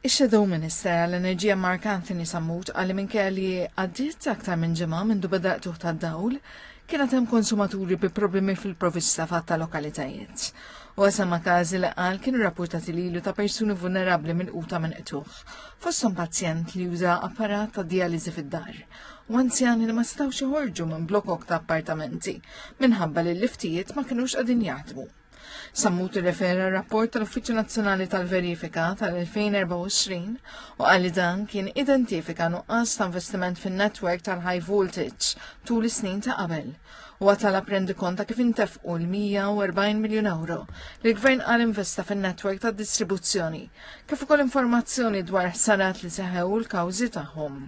Ix-Shadow Minister għall-Enerġija Mark Anthony Sammut qal li minkejja li għaddiet aktar minn ġimgħa mindu beda qtuħ tad-dawl, kienet hemm konsumaturi bi problemi fil-provista fatt ta' lokalitajiet. U għasam ma' każi li qal kienu rapportati lilu ta' persuni vulnerabbli minn quta minn qtuħ, fosthom pazjent li juża apparat ta' dializi fid-dar u anzjani li ma setgħux joħorġu minn blokok ta' appartamenti minħabba li l-liftijiet ma kinux qegħdin jaħdmu. Sammut irrefera r-rapport tal-Uffiċċju Nazzjonali tal-Verifika tal-2024 u għalli dan kien identifika nuqqas ta' investiment fin-netwerk tal-high voltage tul is-snin ta' qabel u għatala prendi konta kif intefqu l-140 miljon euro li l-gvern għal investa fin-netwerk tad distribuzzjoni kif ukoll informazzjoni dwar ħsarat li seħew l-kawżi tagħhom.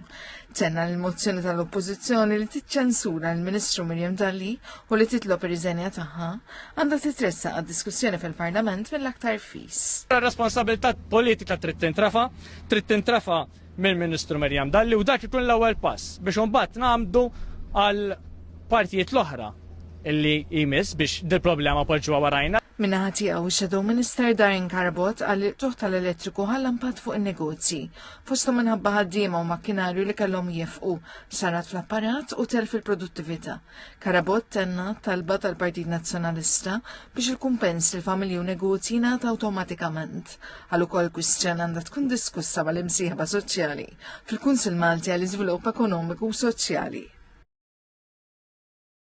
Tenna l-mozzjoni tal-Oppożizzjoni li tiċċensura l-Ministru Mirjam Dalli u li titlob ir-riżenja tagħha għandha titressa għad-diskussjoni fil-Parlament mill-aktar fis. Responsabilità politika trid tintrafa, trid tintrafa mill-Ministru Miriam Dalli u dak ikun l-ewwel pass biex imbagħad nagħmdu għal partijiet l-oħra illi jmiss biex dil-problema poġġuha warajna. Minna ħatijaw, Shadow Minister Darren Carbot għal tuħ tal-elettriku għall impatt fuq il-negozji. Fostom minħabba ħaddiema u makkinarju li kellhom jifqu, sarat fl-apparat u tel fil-produttività. Karabot tenna talba tal-Partit Nazzjonalista biex il-kumpens li familji u negozji jingħata awtomatikament. Għal ukoll kwistjoni għandha tkun diskussa mal-imsieħba soċjali fil-Kunsil Malti għall iżvilupp ekonomiku u soċjali.